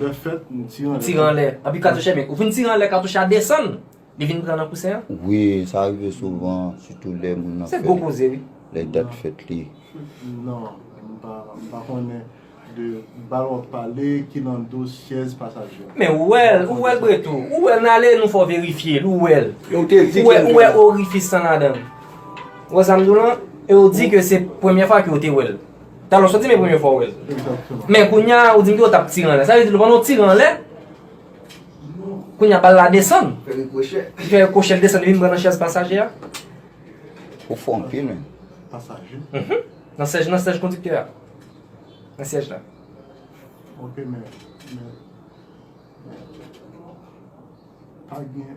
Lèfèt m tire anlè. Anpi katouch a ou fin tire anlè katouch a desann. Li vin pran nan kousen an? Wi, sa rive souvan, sitou lè moun nan fè. Se gwo koze wi. Lè dat fèt li. Non, m pa, m pa konnen de bal wap pale ki nan do syèz pasaje. Men ou wè l, ou wè l bre tou. Ou wè l nan ale nou fè w verifye l, ou wè l. Ou te di ke. Ou wè orifis lan ladan l. Ou wè sa m di w lan? E ou di ke se premye fwa ke ou te wè l. Talè w soti men premye fwa w wè l. Men kounya ou di m ke w t ap tire anlè. Sa vle di l pandan w tire anlè, kounya bal la desann. Fè rikwochè. Li fè rikwochè, li desann, li vin pran nan chèz pasaje a. Ou fò anpil menn. Pasaje? Mh. Nan sèj, nan sèj kondiktè a. Nan syèj la. Ok men, men, men, pa gen.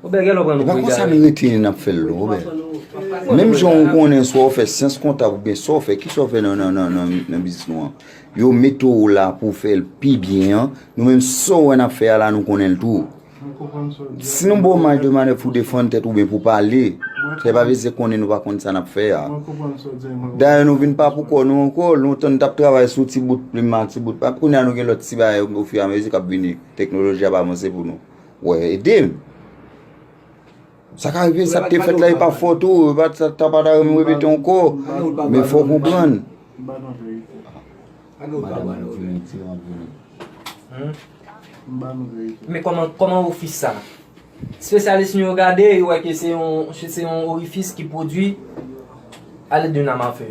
E pa konsa nou rete n ap fè l non Robè. Menm jan ou konnen swa ou fè syans kontab oubyen sa ou fè, ki sa ou fè nan biznis nou an. Yo mete ou la pou ou fè l pi byen an, nou menm sa ou wè n ap fè a la nou konnen l tou. Si nou ba ou maj de manèv pou w defann tèt ou oubyen pou w pale, se pa vledi se konnen nou pa konn sa n ap fè a. Dayè nou vin pa pou kò nou ankò, lontan nou t ap travay sou ti bout plim ak ti bout papye, kounye a nou gen lòt ti bagay ofiramezi k ap vini, teknoloji ap avanse pou nou. Wè edem. Sa ka rive sa te fèt la e pa fòt ou, e pa sa ta pa ta mwen repete anko. Men fò konprann. Men koman ofis sa? Spesyalis nou yo gade, yo wè ke se yon orifis ki pwodwi ale de nan mafe.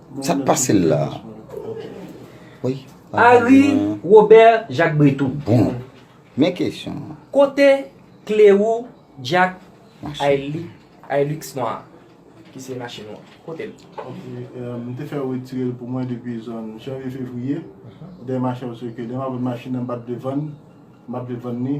Sa k pase l la a? Ary Robert Jacques Breton. Bon, men kesyon an. Kote kle ou Jack Hilux nwa a? Ki se machin ou an? Kote l? Ok, m te fè yo retire l pou mwen depi zòn janvye fevriye, dèyè machin an, paske lè m ap vann machin nan m pa t vle vann, m pa t vle vann li.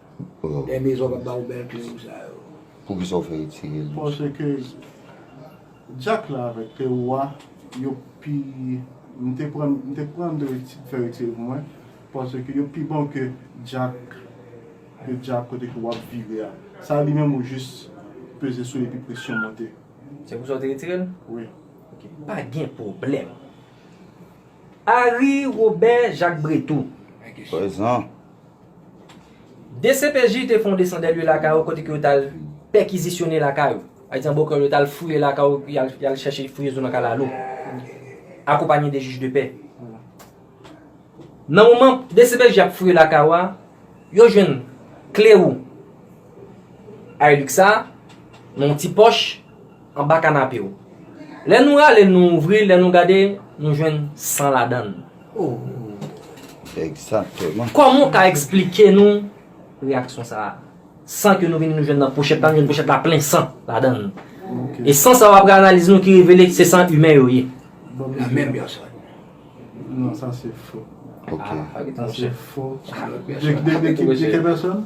Lè mezon pap ba ou bèl kle ou sa yo. Poukisa ou fè retire l doucement. Paske jack la avek kle ou a yo pi m te pran m te pran m te fè retire pou mwen paske yo pi bon ke jack ke jack kote ke wap vire a sa li menm ou jis peze sou li epi presyon monte. Se pou sa ou te retire l? Wi. Ok pa gen pwoblèm. Ary Robert Jacques Breteau. Prezan. Dcpj te fè yon desan dè lye lakay ou kote ke yo t al pèkizisyone lakay ou. Pa egzanp bòkè yo t al fouye lakay ou epi y al chèche fouye zo nan kalalou. Akonpanye de jij de pè. Nan moman dcpj ap fouye lakay ou a, yo jwenn kle ou Hilux sa nan yon ti pòch. Anba kanape w. Lè nou rale l nou ouvri l lè nou gade nou jwenn san ladan l. Ooh. Egzakteman. Kòman w ka eksplike nou reyaksyon sa a? San ke nou vini nou jwenn nan pochèt la nou jwenn pochèt la plen san ladan l. E san sa yo apre analiz nou ki revele se san imen yo ye. La menm pèsòn. Non sa se fo. Ok. Sa se fo. De ki pèsòn?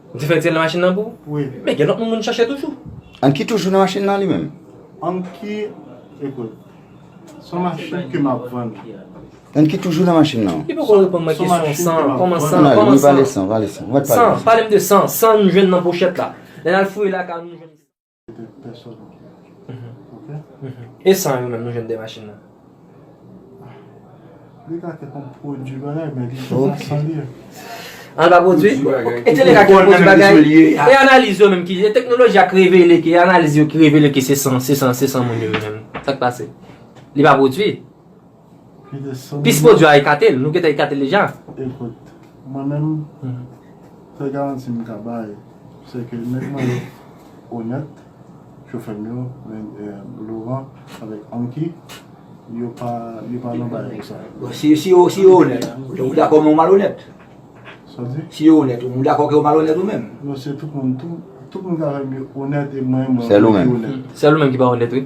Difèt se nan machin nan pou? Wi. Men gen lòt moun moun chache toujou. An ki toujou nan machin nan li menm? An ki, ekout, son machin ke map vann. An ki toujou nan machin nan? Li poko reponn mwen kesyon san, kòman san, kòman san? Nan, li pale san, pale san. San, pale m de san, san nou jwenn nan pochèt la. Lè nan fouye lakay nou jwenn. E san yo menm nou jwenn 2 machin nan? Li ka te konn pwodui bagay men li te ka san li. An pa pwodui? E te li ka te pwodui bagay? E analiz yo menm ki? E teknoloji a ki revele ki? E analiz yo ki revele ki se san, se san, se san moun yo menm? Sa k pase? Li pa pwodui? Pis pwodwi a ekate l. Nou gentan ekate l deja. Ekout, mwen menm, sèl garanti m ka bay, se ke nèg mwen yo onèt, chofè m yo, Loran avèk Anki, yo pa nan bagay konsa. Bon, si yo onèt, ou dakò men ou malonèt? Sa w di? Si yo onèt, ou dakò ke ou malonèt ou menm? Non, se tout moun, tout moun ki avè m yo onèt e mwen menm mwen ki onèt. Sèl ou menm ki pa onèt wi.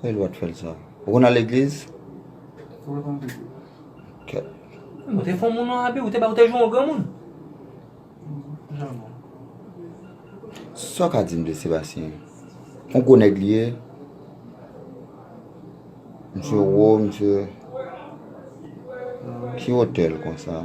Kòman yon lwa t fèl sa? Ou konn al legliz? Ou konn priye? Kèt. Ou te fon moun non Abi, ou te bay ou te jwe yon granmoun. Janman. Sa w ka di m de Sebastien? On gwo nèg li ye? Misye wo, misye Ki wotè l konsa?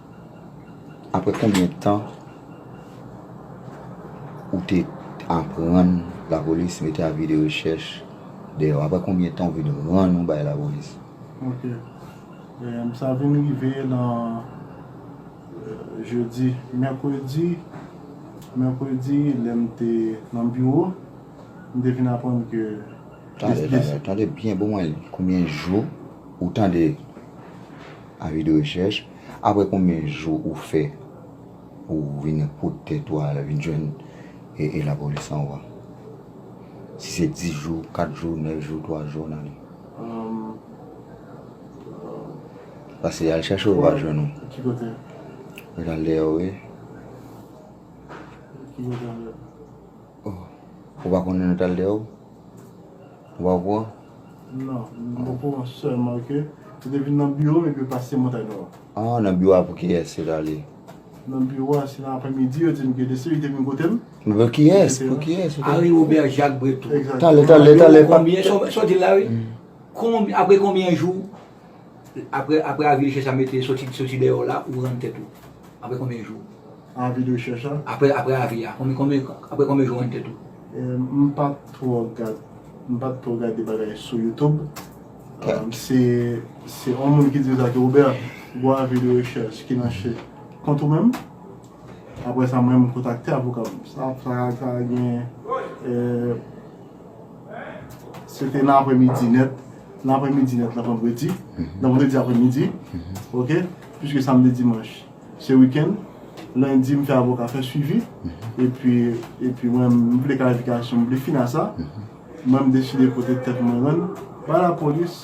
Aprè konbyen tan ou te aprann lapolis mete avi de rechèch deyò? Aprè konbyen tan ou vin rann ou bay lapolis? Ok. Sa vin rive nan jedi, mèkredi, mèkredi lè m te nan biwo, m te vin aprann ke Tande, tande, tande byen pou mwen, konbyen jou ou tande Avi de rechèch, Aprè konbyen jou ou fè ou vin pot tèt ou al vin jwenn lapolis an ou a? Si se 10 jou, 4 jou, 9 jou, 3 jou an ale. Pase yal chèche ou yo pa jwenn ou. Ki kote? Mwen al deyò wi. Ki kote anlè? Ou pa konnen nou tal deyò? Ou pa okouran? Non, m okouran sèlman ke yo te vin nan biwo m epi yo pase Montay Nò a. Ah, nan biwo a pou kiyès yo t ale? Nan biwo a se nan apremidi yo di m ke Desir li te vin kote m. Men pou kiyès? Pou kiyès yo te ale? Henri Robert Jacques Brethoud. Talè, talè, talè. Konbyen, sa w di la wi? Konbyen, apre konbyen jou? Apre apre avi de chèch a mete soti soti deyò la ou rann tèt ou apre konbyen jou? Avi de chèch a? Apre apre avi a konbyen konbyen apre konbyen jou ou rann tèt ou? M pa twò gad m pa twò gade bagay sou youtube se se on moun ki di sa ke Robert gwo avi de rechèch ki nan che kont ou menm apre sa mwen m kontakte avoka m sa sa ka gen Se te nan apre midi nèt, nan apre midi nèt nan vandredi, nan vandredi apre midi, ok, pwiske samdi dimanch se wikenn, lendi m fè avoka fè swivi, epi, epi mwen m vle klarifikasyon, m vle fin a sa, mwen m deside pote tèt mwen rann ba lapolis.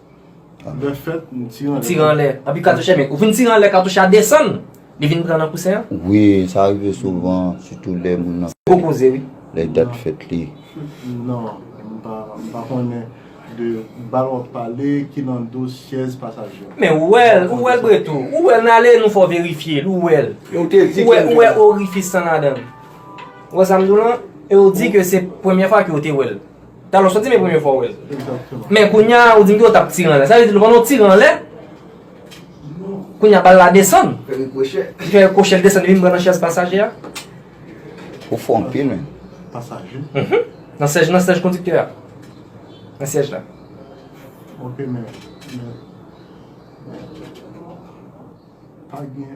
Lè fèt m tire anlè. Tire anlè. Anpi katouche men. Ou fin tire anlè katouche a desann. Li vin pran nan kousen an. Wi sa rive souvan. Sitou lè moun nan. Gwo koze wi. Lè dat fèt li. Non. M pa konnen de bal wap pale ki nan do syèz pasaje a. Men ou wèl. Ou wèl pretou. Ou wèl nan ale nou fè w verifye l. Ou wèl. Ou wè ou wè orifis lan ladan l. Ou wè sa m di w lan? E ou di ke se premye fwa ke ou te wèl. Talè w soti men premye fwa w wè l. Men kounye a ou di m ke w t ap tire anlè. Sa vle di lè w konn ou tire anlè, kounye a bal la desann. Fè rikwochè. Li fè rikwochè, li desann, li vin pran nan chèz pasajè a. Ou fò anpil menn. Pasajè? Mh. Nan syèj, nan syèj kondiktè a. Nan syèj la. Ok men, men, men, pa gen.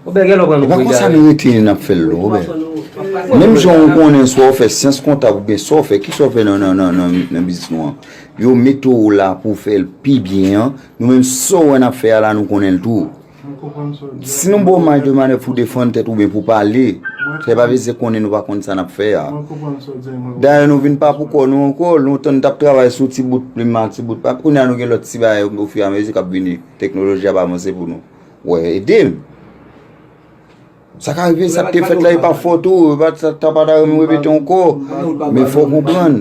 E pa konsa nou rete e n ap fè l non Robè. Menm jan ou konnen swa ou fè syans kontab oubyen sa w fè, ki sa w fè nan biznis nou an. Yo mete w la pou w fè l pi byen an. Nou menm sa w wè n ap fè a la nou konnen l tou. Si nou ba w maj de manèv pou w defann tèt ou oubyen pou w pale, se pa vle di konnen nou pa konn sa n ap fè a. Dayè nou vin pa pou kò nou ankò. Lontan nou t ap travay sou ti bout plim ak ti bout papye. Kounye a nou gen lòt ti bagay ofiramezi k ap vini. Teknoloji ap avanse pou nou. Wè ede l. Sa ka rive sa te fèt la e pa fòt ou, e pa sa ta pa ta renmen repete ankò. Men fò konprann.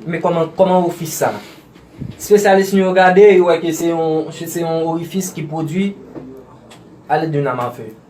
Men kòman ofis sa? Spesyalis nou yo gade, yo wè ke se yon orifis ki pwodui ale de nan mafe.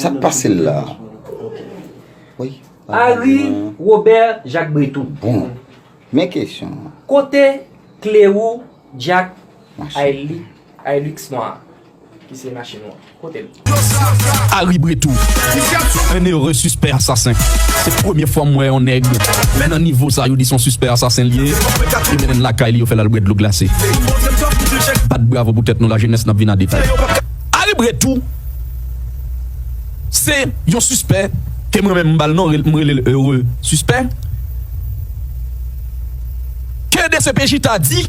Sak pase l la? Ary Robert Jacques Breton. Bon, men kesyon an. Kote kle ou Jack Hilux nwa a? Ki se machin ou an? Kote l? Ary Breton. Un heureux suspect assassin. Se premye fwa m wè yon nèg men nan nivo sa yo di son suspect assassin li ye. Yo mennen l lakay li yo fè l al bwè dlo glase. Bat bravo pou tèt nou la jenès n ap vin an detay. Ary Breton. Se yon sispè ke mwen menm m ba l non, m rele l Heureux Sispè, ke dcpj ta di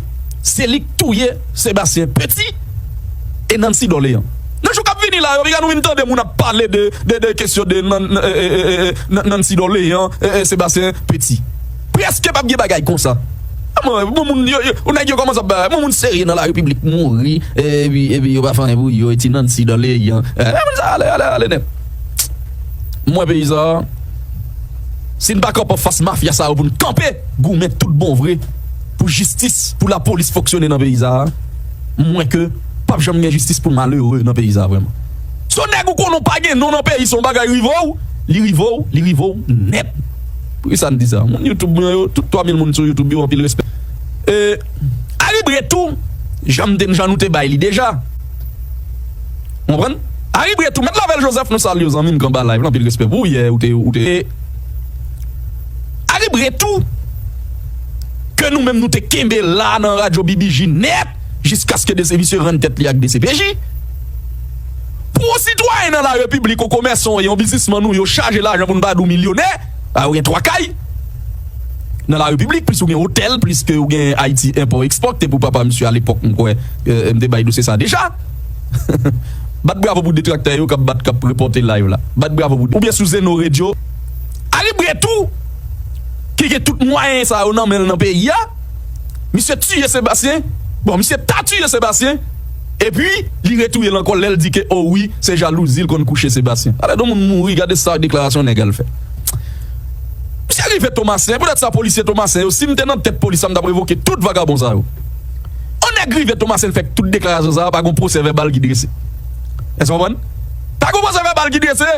se li k touye Sébastien Petit e Nancy Dorlean. Nan jou k ap vini la yo, piga nou vin tande moun ap pale de kesyon de Nancy Dorlean, Sébastien Petit. Preske pap gen bagay konsa. Bon moun yo nèg yo kòmanse ap bay bon moun serye nan lari piblik mouri epi epi yo pa fè anyen pou yo e ti Nancy dan le yan moun sa ale ale ale nèt mwen peyi sa si n pa kanpe anfas mafya sa yo pou n kanpe goumen tout bon vre pou jistis pou lapolis fonksyone nan peyi sa mwen ke pap janm gen jistis pou malere nan peyi sa vreman son nèg ou konnen w pa gen non nan peyi sa yon bagay rive w li rive w li rive w nèt. Poukisa n di sa? Moun YouTube mwen yo, tout 3000 moun sou YouTube yo anpil respè. E Ari Bret tou jan m te jan nou te bay li deja. Ou konprann? Ari Bret tou, Mèt Lavèl Joseph nou salye w zanmi m k anba live lan anpil respè pou ou yè ou te ou te e Ari Bret tou ke nou menm nou te kenbe la nan radyo BBJ nèt jiskaske de se misye rann tèt li ak dcpj. Pou yon sitwayen nan larepiblik, yon komèsan ou yon biznisman nou yo chaje lajan pou n pa di w milyonè, bay ou gen 3 kay nan larepiblik plis ou gen otèl plis ke ou gen Ayiti enpò ekspò ki te pou papa misye alepòk m kwè m te bay dosye sa deja. Bat bravo pou detraktè yo k ap bat k ap repòte live la. Bat bravo pou oubyen sou Zeno Radio. Ari bre tou ki gen tout mwayen sa yo nan men l nan peyi a. Misye tiye Sebastien. Bon misye ta tiye Sebastien. Epi li retouye l ankò lè l di ke o wi se jalouzi l konn kouche Sébastien. Alèdon moun mouri gade sa deklarasyon nèg al fè. Misye rive Tomasen e pou dat sa polisye Tomasen yo si m te nan tèt polis la m t ap revoke tout vagabon sa yo. On nèg rive Tomasen fè tout deklarasyon sa pa gon pwosè vèbal ki drese. Èske w konprann? Pa gon pwosè vèbal ki drese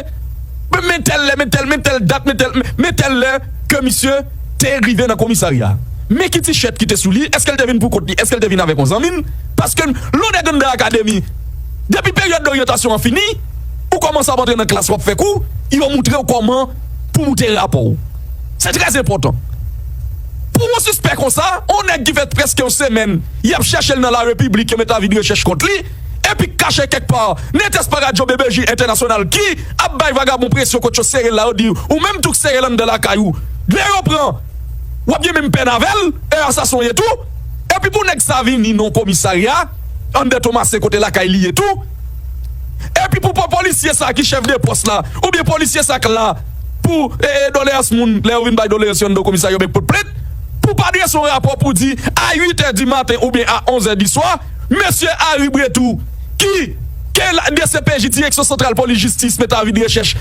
pou men tèl lè men tèl men tèl dat men tèl men tèl lè ke misye te rive nan komisarya. Men ki tichèt ki te sou li èske l te vin pou kont li èske l te vin avèk on zanmi l. Paske lè w dèk anndan akademi, depi peryòd doryantasyon an fini, ou kòmanse ap antre nan klas w ap fè kou, yo moutre w kòman pou moute rapò w. Se trè enpòtan. Pou yon sispè konsa, yon nèg ki fè prèske yon semèn y ap chèche l nan larepiblik, yo mete avi de rechèch kont li, epi k kache kèk pa, netes pa radyo BBJ entènasyonal ki ap bay vagabon presyon kot yo sere l la, yo di ou menm tou k sere l anndan lakay ou, lè yo pran w ap gen menm pèn avè l, e a sa s on ye tou. Epi pou nèg sa vini nan komisarya anndan Tomase kote lakay li ye tou, epi pou pa polisye sa ki chèf de pòs la oubyen polisye sa k la pou doleyans moun lè yo vin bay doleyans yo anndan komisarya oubyen k pot plent, pou pa drese yon rapò pou di a 8 è di maten oubyen a 11 è di swa, mesye Ary Bretou ki gen dcpj, Direksyon Santral Polis Jistis, mete avi de rechèch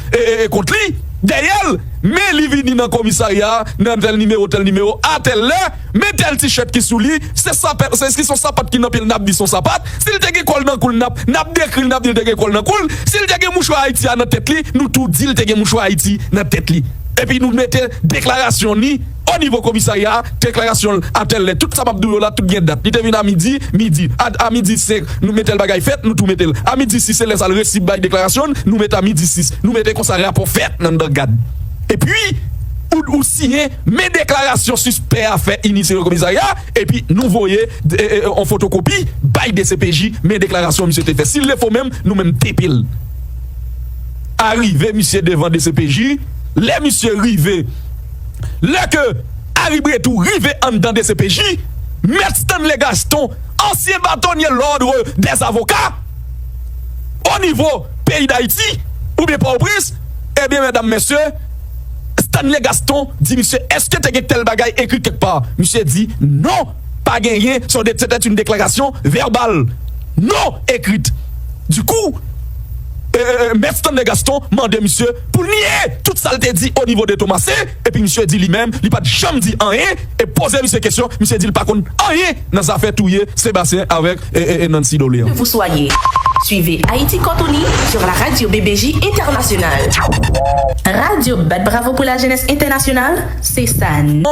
kont li, dèyè l, men li vini nan komisarya nan tèl nimewo, tèl nimewo, a tèl lè. Men tel t-shirt ki sou li se sapèt se si son sapat ki nan pyel nap di son sapat si li te gen kòl nan koul nap nap dekri li nap di li te gen kòl nan koul si li te gen mouchwa ayiti a nan tèt li nou tou di li te gen mouchwa ayiti nan tèt li epi nou mete deklarasyon ni o nivo komisarya a deklarasyon l a tèl lè tout sa map di w yo la tout gen dat li te vin a midi midi a a midi 5 nou metel bagay fèt nou tou metel a midi 6 se lè sa l resi bay deklarasyon l nou met a midi 6 nou mete konsa rapò fèt nan dan gad epi ou ou siyen Men deklarasyon sispè a fè ini sere komisarya a epi nou voye yon fotokopi bay dcpj men deklarasyon misye te fè si l te fo menm nou menm tepe l arive misye devan dcpj lè misye rive lè ke Ari Bretou rive anndan dcpj mèt Stanley Gaston ansyen batonye lòdre dè avoka o nivo peyi dayiti oubyen pòtoprens ebyen medam mesye Stanley Gaston di misye eske te gen tèl bagay ekri kèk pa? Misye di non pa genyen se yon se tè yn deklarasyon vèbal non ekrit di kou mèt Stanley Gaston mande misye poul nye tout sal te di o nivo de Thomasin epi misye di li menm li pat janm di anyen e poze misye kesyon misye dil pa konn anyen Nan zafè touye Sébastien avèk Nancy Doléan. Vous soyez. Suivez Haïti Corps Unis sur la radio BBJ Internationale. Radio bat bravo pou la jeunesse internationale, se sa n.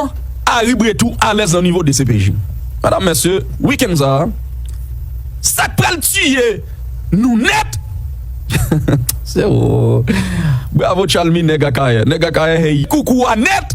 Aribre tou alèz nan nivo dcpj. Madam mesye weekend sa a sak pral tiye nou nèt se wou bravo chalmy nèg akayè nèg akayè hey koukou a nèt.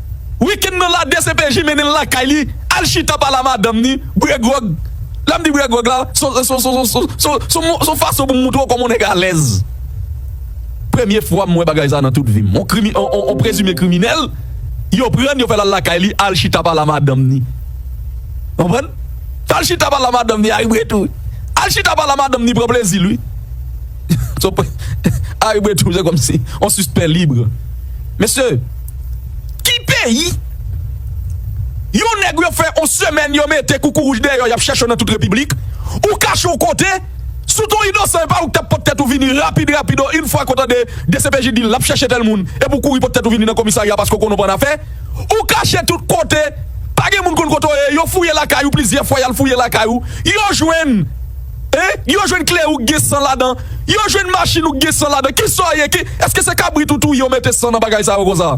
Week-end nan la dcpj mennen l lakay li al chita pale a madanm ni, bre gròg. Lè m di bre gròg la, son fason pou m montre w kòman yon nèg alèz. Premye fwa m wè bagay sa nan tout vi m. Yon prezime kriminèl, yo pran l, yo fè l al lakay li al chita pale a madanm ni. Konprann? Al chita pale a madanm ni a wi bre tou. Al chita pale a madanm ni pran plezi l wi. Aribretro se kòm si on sispen libre mesye ki peyi yon nèg yo fè on semèn yo mete koukourouj deyò yap chèche w nan tout repiblik ou kache w kote sou ton inosan epa ou k tap pot tèt ou vini rapid rapid o yn fwa ke w tande dcpj di lap chèche tèl moun epi ou kouri pot tèt ou vini nan komisarya paske w konnen w pa annafè ou kache tout kote pa gen moun konn kote w ye yo fouye lakay ou plizyè fwa yal fouye lakay ou yo jwenn Hein yo jwenn kle ou k gen san ladan yo jwenn machine ou k gen san ladan kisa w ye ki eske se kabrit ou touye ou mete san nan bagay sa yo konsa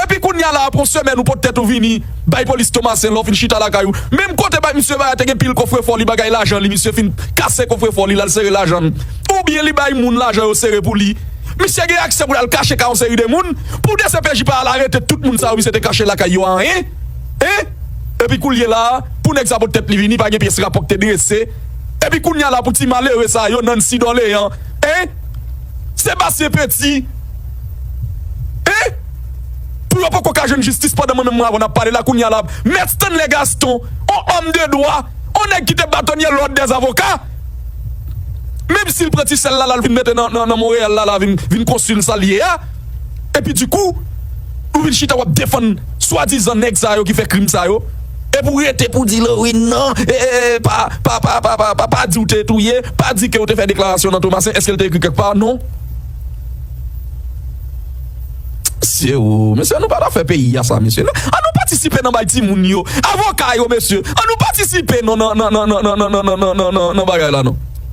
epi kounya la apre yon semèn ou pot tèt ou vini bay polis tomasen lè w fin chita lakay ou menm kote bay misye bay a te gen pil kofrefò li bagay lajan li misye fin kase kofrefò li l al sere lajan l oubyen li bay moun lajan yo sere pou li misye gen aksè pou l al kache kay yon seri de moun pou dcpj pa al arete tout moun sa yo misye te kache lakay yo a hein. Hein! Epi koulye la pou nèg sa pot tèt li vini pa gen pyès rapò k te drese epi kounya la pou ti malere sa yo Nancy Dorlean hein! Sébastien Petit hein! Pou yo poko ka jwenn jistis pandan mwen menm mwen avèw nap pale la kounya la Mèt Stanley Gaston on homme de droit on nèg ki te batonye l'ordre des avocats menm sil pran ti sèl la lal vin mete nan Montréal la la vin konsil sal ye a. epi di kou ou vin chita wap defann swa dizan nèg sa yo ki fè krim sa yo epi ou rete pou di Lauryn nan pa di ou te touye pa di ke ou te fè deklarasyon nan Thomassin eske li te ekri kèk pa non mesye oo mesye an nou pa ta fè peyi a sa mesye an nou patisipe nan bay ti moun yo avoka yo mesye an nou patisipe nan nan nan nan nan nan nan nan nan bagay la non.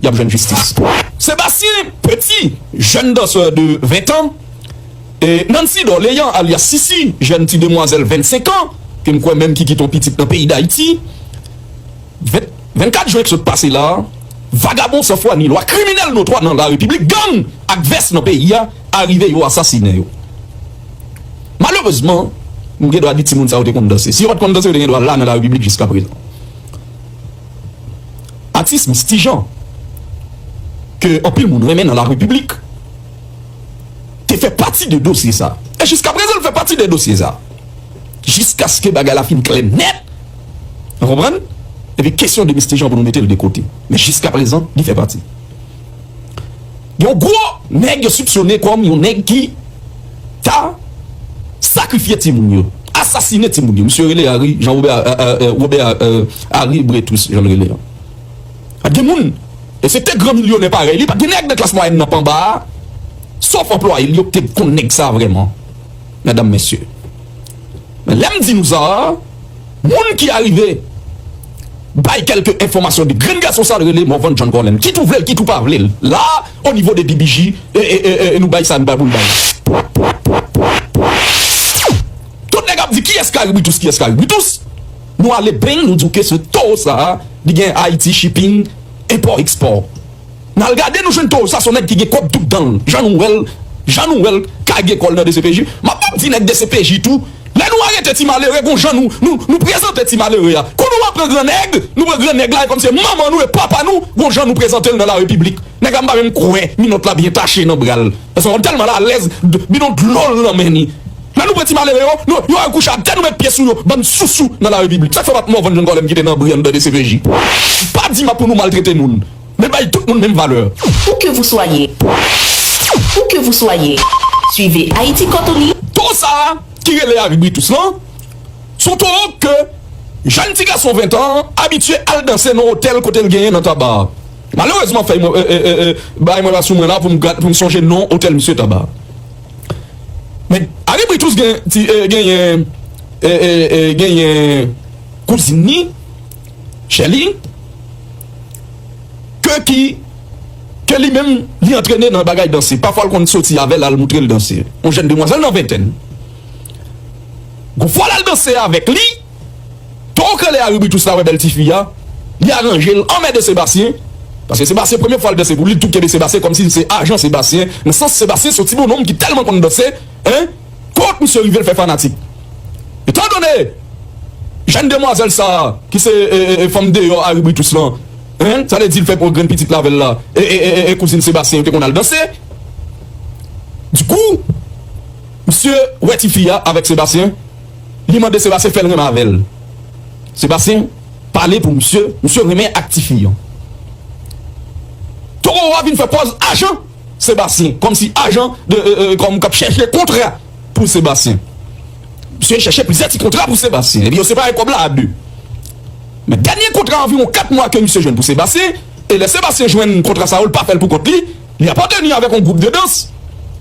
y ap jwenn jistis pou. Sébastien Petit, jèn danseur de 20 tan, e Nancy Dorlean alyas Sisi, jèn ti demwazèl 25 an, ke m kwè menm ki kite yon pitit nan peyi Dayiti, 20, 24 jwen k sot pase la a, vagabon san fwa ni lwa, kriminèl notwa nan la repiblik, gang ak vès nan peyi a, arive yo asasinen yo. Malerezman, m gen dwa di timoun sa yo te konn danse. Si yo pa t konn danse, yo te gen dwa la nan la repiblik jiskaprezan. Atis Misty Jean ke anpil moun renmen nan la repiblik te fè pati de dosye sa e jiska prezan l fè pati de dosye sa jiskaske bagay la fin klè nèt nou konprann epi kesyon de Misty Jean pou nou mete l de kote men jiska prezan li fè pati. Yon gwo nèg yo soupsone kòm yon nèg ki ta sakrifye timoun yo, asasine timoun yo. Misye rele Harry Jean Robert, Robert Harry Bretus jan l rele an. Pa t gen moun, esepte gran milyonè parèy li, pa t gen nèg nan klas mwayèn nan pa anba a, sof anplwaye l yo ki te konn nèg sa vrèman, medam mesye. Men lè m di nou sa a, moun ki arive bay kèlke enfòmasyon de grenn gason sa l rele Morvan John Colem. Kit ou vle l, kit ou pa vle l, la a, o nivo de DBJ, e nou bay sa nou pa pou n bay. Tout nèg ap di kiyès Karibitus, kiyès Karibitus, nou ale beny nou di w ke se towo sa a li gen Haiti Shipping, enpò, ekspò. Nal gade nou jwenn towo sa son nèg ki gen kob tout danl jan nou wèl jan nou wèl kage kòl nan dcpj map map di nèg dcpj tou lè nou arete ti malere gon jan nou nou nou prezante ti malere a kou nou pran gran nèg nou pran gran nèg la e kòm se manman nou e papa nou gon jan nou prezantel nan la repiblik nèg la mpa menm kwè minòt la byen tache nan bral paske wap tèlman la alèz bidon dlol nan men ni lè nou pran ti malere yo nou yo al kouche atè nou met pye sou yo bann sousou nan la repiblik sak fè wap mòvann jan kòlèm kite nan bri andan dcpj mpa di map pou nou maltrete moun. Men bay tout moun menm valè. Où que vous soyez Où que vous soyez Suivez Haïti Cotonou. Towo sa a ki rele Aribritus lan, s on towo ke jèn ti gason ventan an abitye al danse nan otèl kote l genyen nan Taba a. Malerezman fèy mwen bagay mwen pa sou mwen la pou m sonje non otèl misye Taba a. Men Aribritus gen ti genyen genyen kouzin ni. Chèli, ke ki, ke li menm li antrene nan bagay danse, pafwa l konn soti avè l al moutre l danse, yon jèn demwazèl nan ventèn. Gon fwa l al danse avèk li, towo k rele Aribitus la wè bèl ti fi a, li aranje l anmède Sebastien, paske Sebastien premye fwa l danse pou li, li tou kenbe Sebastien kòmsi l se ajan Sebastien, nan sans Sebastien se yon ti bononm ki tèlman konn danse, en. Kot misye rive l fè fanatik. Etan done jèn demwazèl sa a ki se fanm deyò Ari Britus lan, hein, sa vle di l fè grenn pitit l avè l la e kouzin Sebastien yo te konn al danse. Du coup, misye wè ti fi a avèk Sebastien, li mande Sebastien fè l renmen avè l. Sebastien pale pou misye, misye renmen ak ti fi an. Toro a vin fè pòz ajan. Sébastien kòm si ajan de kòm kap chèche kontra pou Sébastien misye chèche plizyè ti kontra pou Sébastien epi yo separe kòb la a 2 men dènye kontra anviwon 4 mwa ke misye jwenn pou Sébastien e lè Sébastien jwenn kontra sa yo li pa fèl pou kont li li apateni avèk yon gwoup de dans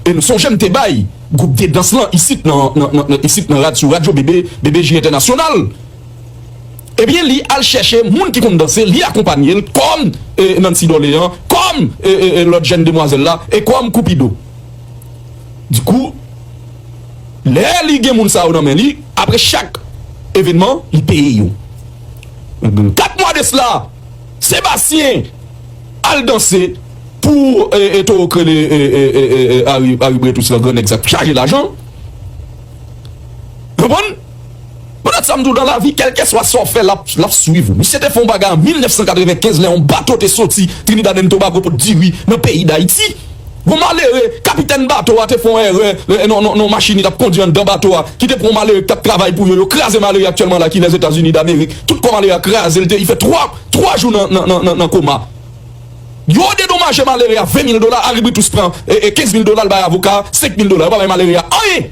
e nou sonje m te bay gwoup de dans lan isit nan isit nan rad sou radyo BBJ entènasyonal. Ebyen li al chèche moun ki konn danse li akonpanyel kòm Nancy Dorlean kòm lòt jèn demwazèl la e kòm Cupido dikou lè li gen moun sa yo nan men li apre chak evenman li peye yo ebyen 4 mwa de sla Sébastien al danse pou towo k rele Harry Bretus lan gran nèg sa k chaje lajan konprann. Pèt sa m di w dan lavi kèlkeswa sa w fè lap lap swiv ou. Misye te fè yon bagay an 1995 lè yon bato te soti Trinidad and Tobago pou t diri nan peyi Dayiti. Yon malere, kapitèn bato a te fè yon èrè nan nan yon machin li tap kondi anndan bato a ki te pran yon malere ki tap travay pou yo, yo kraze malere a aktyèlman la ki Lèzetazini Damerik. Tout kò malere a kraze l te li fè 3 3 jou nan nan nan nan koma. Yo dedomaje malere a 20 mil dola Aribritus pran 15 mil dola l bay avoka a 5 mil dola yo pa bay malere a anyen.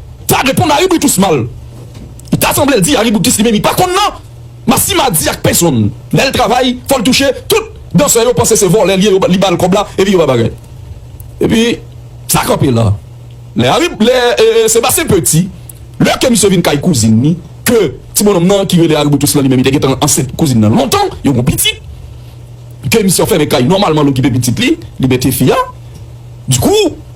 ta reponn aribrikis mal. Li ta sanble l di aribrikis li menm li pa konn nan Massima di ak pesonn lè l travay fò l touche tout dansè yo panse se vòlè l ye li ba l kòb la epi yo pa bagay epi sa kanpe la lè ari lè Sebastien Petit lè ke misye vin kay kouzin li ke ti bononm nan ki rele aribrikis lan li menm li te gentan ansent kouzin nan lontan yo gon pitit ke misye anfèmen kay nòmalman l okipe pitit li li mete fi a dikou.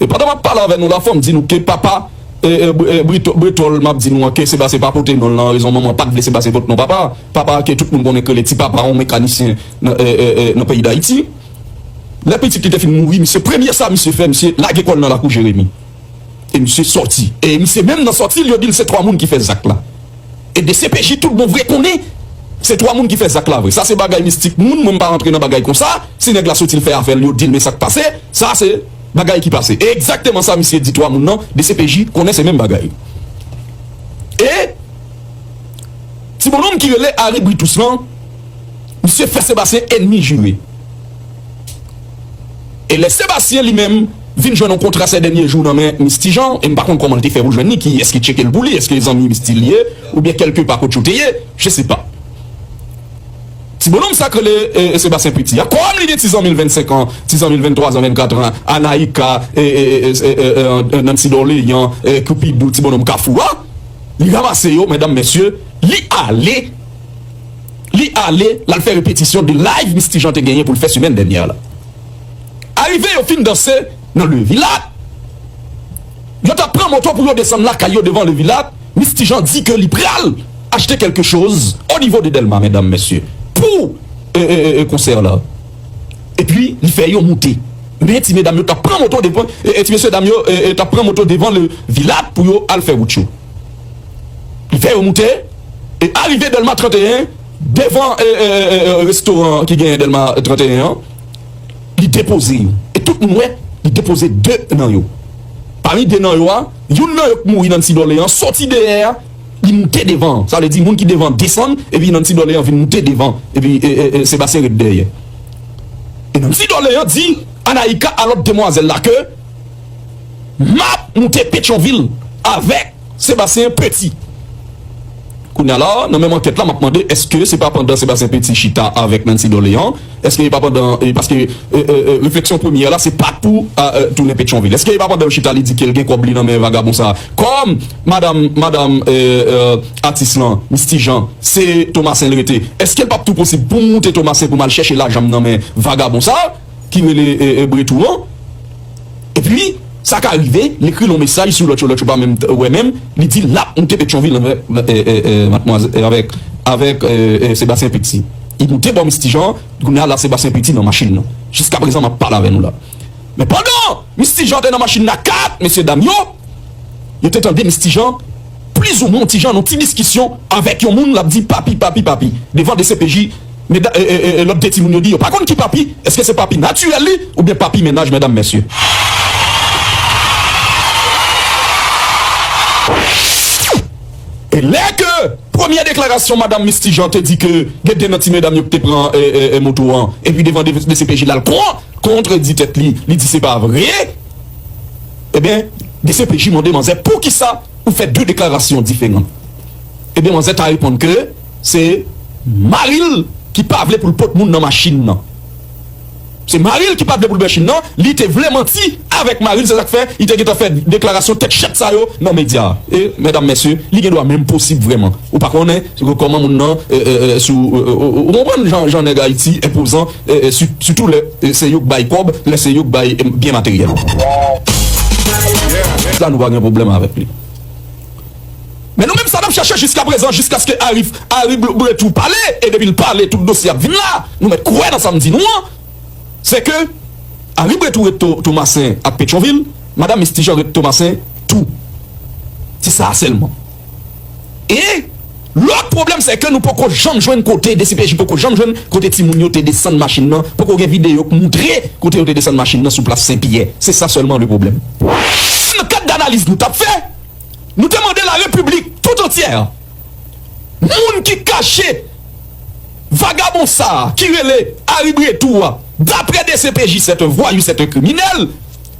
E pandan map pale avè nou la fòm di nou ke papa Bretòl map di nou an ke Sebastien pa pote non lan rezon manman pat vle Sebastien pot non papa a. Papa a ke tout moun konnen k rele ti papa yon mekanisyen nan peyi dayiti. Lè pitit li te fin mouri misye premye sa misye fè misye lage kòl nan lakou Jeremi e misye sòti e misye menm nan sòti l yo dil se 3 moun ki fè zak la e dcpj tout bon vre konnen se 3 moun ki fè zak la vre sa se bagay mistik moun mwen mpa rantre nan bagay konsa si nèg la sòti l fè afè l yo dil men sak pase sa se Bagay ki pase e egzakteman sa misye di 3 moun nan dcpj konnen se menm bagay e ti bononm ki rele Ary Britus lan misye fè Sebastien enmi jire e lè Sebastien li menm vin jwenn yon kontra 7 dènye jou nan men Misty Jean e m pa konn kòman l te fè pou l jwenn li ki eski tcheke l pou li eske zanmi Misty li ye oubyen kelke pa kot yo te ye je se pa. Ti bononm sa k rele Sebastien Petit a, kòm li gen ti zanmi l 25 an, ti zanmi l 23 zan, 24 tran, Anaïka, Nancy Dorlean, Cupido, ti bononm Kafou a, li ranmase yo, medam, mesye, li ale, li ale, l al fè repetisyon 2 live Misty Jean te genyen pou l fè semèn dènyè la. Arive yo fin danse nan Le Villa. Yo tap pran moto pou yo desann lakay yo devan le villa Misty Jean di ke li pral achte kelke choz o nivo de Delma medam mesye pou konsè la epi li fè yo moute men ti medam yo tap pran moto devan ti mesye dam yo tap pran moto devan le villa pou yo al fè wout yo li fè yo moute e arive Delma 31 devan restoran ki gen Delma 31 an. Li depoze yo. E tout moun wè, li depoze de nan yo. Pami de nan yo a, youn nan yo k mouri Nancy Dorlean soti dèyè a, li moute devan an. Sa vle di moun ki devan an desann, epi Nancy Dorlean vin moute devan, epi Sébastien ret dèyè. E Nancy Dorlean di Anaïka a lòt demwazèl la ke, M ap moute Petyonvil avèk. Sébastien Petit. Kounya la, nan menm ankèt la, m ap mande èske se pa pandan Sébastien Petit chita avèk Nancy Dorlean, èske e pa pandan, paske refleksyon premyè la se pa pou tounen Pétion-Ville, èske e pa pandan yo chita li di ke l gen kòb li nan men vagabon sa a, kòm madam, madam atis lan, Misty Jean, se Thomassin l rete, èske l p ap tou posib pou m moute Thomassin pou m al chèche lajan m nan men vagabon sa a? ki rele Bretou an epi sa ka rive li ekri l yon mesaj sou lòt yo, lòt yo pa menm wè menm li di lap moute Petyonvil avèk avèk Sebastien Petit li moute Bon Misty Jean kounya la Sebastien Petit nan machin nan jiska prezan map pale avè nou la men pandan Misty Jean te nan machin nan ak mesye dam yo yo te tande Misty Jean Plizoumwen yon ti jan, yon ti diskisyon avèk yon moun, l ap di papi, papi, papi. Devan dcpj, lòt de timoun yo di yo pa konn ki papi, èske se papi natirèl li oubyen papi mennaj medam mesye? E lè ke premye deklarasyon madam Misty Jean te di ke gen de nan ti medam yo ki te pran moto an, epi devan dcpj l al kontredi tèt li, li di se pa vre. Ebyen dcpj mande manzè poukisa ou fè 2 deklarasyon diferan ebyen manzè ta reponn ke se maril ki pa vle poul pot moun nan machin nan se maril ki pa vle poul machin nan li te vle manti avèk maril se sak fè li te gentan fè deklarasyon tèt chat sa yo nan medya e mèdam mèsye li gen dwa menm posib vrèman ou pa konnen kòman moun nan sou ou konprann jan nèg ayiti enpozan. Sitou lè se yo k bay kòb, lè se yo k bay byen materyèl. Sa nou pa gen pwoblèm avèk li. Men nou menm sa n ap chèche jiskaprezan, jiskaske Arif Aribloubouret tou pale, e depi l pale tout dosye ap vin la, nou mèt kwè nan sa m di nou an, se ke Aribloubouret tou ret Tomasen ak Petyonvil, Madam Miss Tijan ret Tomasen tou. Se sa a sèlman. E Lòt pwoblèm sè ke nou poko janm jwenn kote dcpj poko janm jwenn kote timoun yo te desann machin nan poko gen videyo k moutre kote yo te desann machin nan sou plas sen pyè se sa sèlman le pwoblèm. Nan kad danaliz nou tap fè nou te mande la repiblik tout antyè moun ki kache vagabon sa ki rele Ary Bretou a dapre dcpj sèt un vwayou sèt un kriminèl.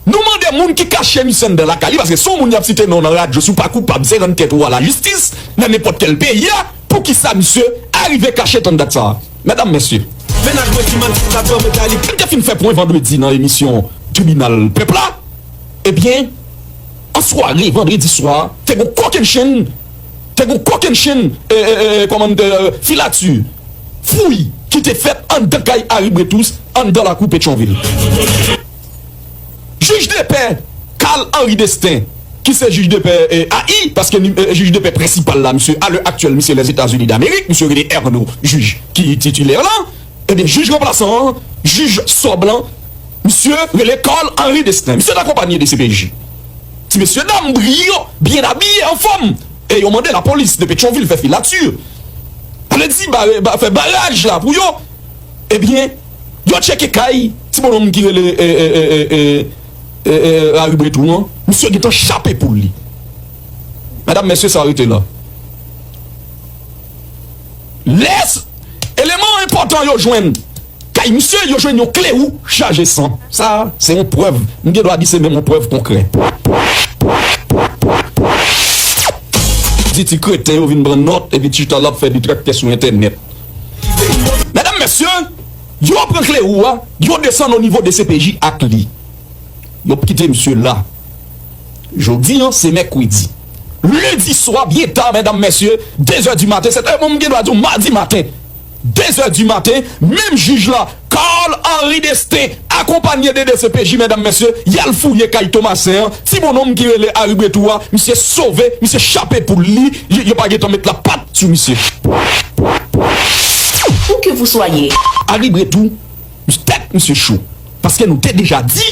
Nou mande moun ki kache misye anndan lakay li, paske si yon moun yap site non nan radyo si w pa koupab se rann tèt ou a la jistis nan nenpòt kèl peyi a pou kisa misye arive kache tann dat sa a medam mesye. Mennaj mwen ki manti sa pran mentali. Li te fin fè pwen vandredi nan emisyon Tribinal Pèp la, ebyen an sware vandredi swa te gon kokennchenn te gon kokennchenn kòman filati fouy ki te fèt anndan kay Aribretous anndan lakou Petyonvil. Jij depè Carl Henri Destin ki se jij depè AI paske jij depè prensipal la misye a lè aktyèl misye Lèzetazini Damerik misye rele Erno jij ki titilè la ebyen jij ranplasan an jij sò blan misye rele Carl Henri Destin misye t akonpanye de cpj ti mesye dam briyan byen abiye anfòm e yo mande lapolis de Petyonvil fè filati alèdi fè baraj la pou yo ebyen. Yo tcheke kay ti bononm ki rele Laribretou an, misye gentan chape poul li. Medam mesye sa rete la. Lè eleman enpòtan yo jwenn kay misye, yo jwenn yon kle wou chaje san. Sa se yon prèv, m gen dwa di se menm yon prèv konkrè. Di ti kreten yo vin pran nòt epi chita l ap fè detraktè sou entènèt. Medam mesye, yo pran kle wou a, yo desann o nivo dcpj ak li. Yo p kite misye la. Jodi an se mèkredi. Lendi swa byen ta medam mesye, 2 zè di maten, se te bon m gen dwa di w madi maten, 2 zè di maten, menm jij la Carl Henry Destin akonpanye 2 dcpj mètdam mesye yal fouye kay Thomasin an ti bononm ki rele Harry Bretou a misye sove misye chape poul li yo pa gentan met la pat sou misye. Harry Bretou misye tèt misye cho paske nou te deja di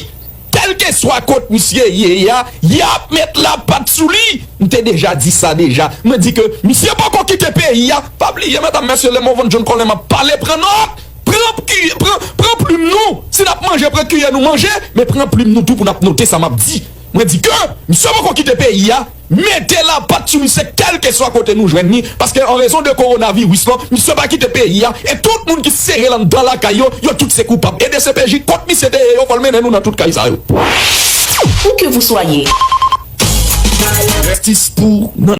kelkeswa kot misye ye a yap met la pat sou li m te deja di sa deja mwen di ke misye poko kite peyi a pa bliye mètdam mesye lè mwen vann John Colem ap pale pran nòt. Pran plim nou, si n ap manje pran kiyè nou manje, men pran plim nou tou pou n ap note sa m ap di. Mwen di ke misye poko kite peyi a, mete lapat sou misye kèlkeswa kote nou jwenn li, paske an rezon de kowonaviris lan, misye pa kite peyi a, e tout moun ki sere l anndan lakay yo, yo tout se koupab. E dcpj kont misye te ye yo, fò l mennen nou nan tout kay sa yo. Où que vous soyez. Jistis pou nan.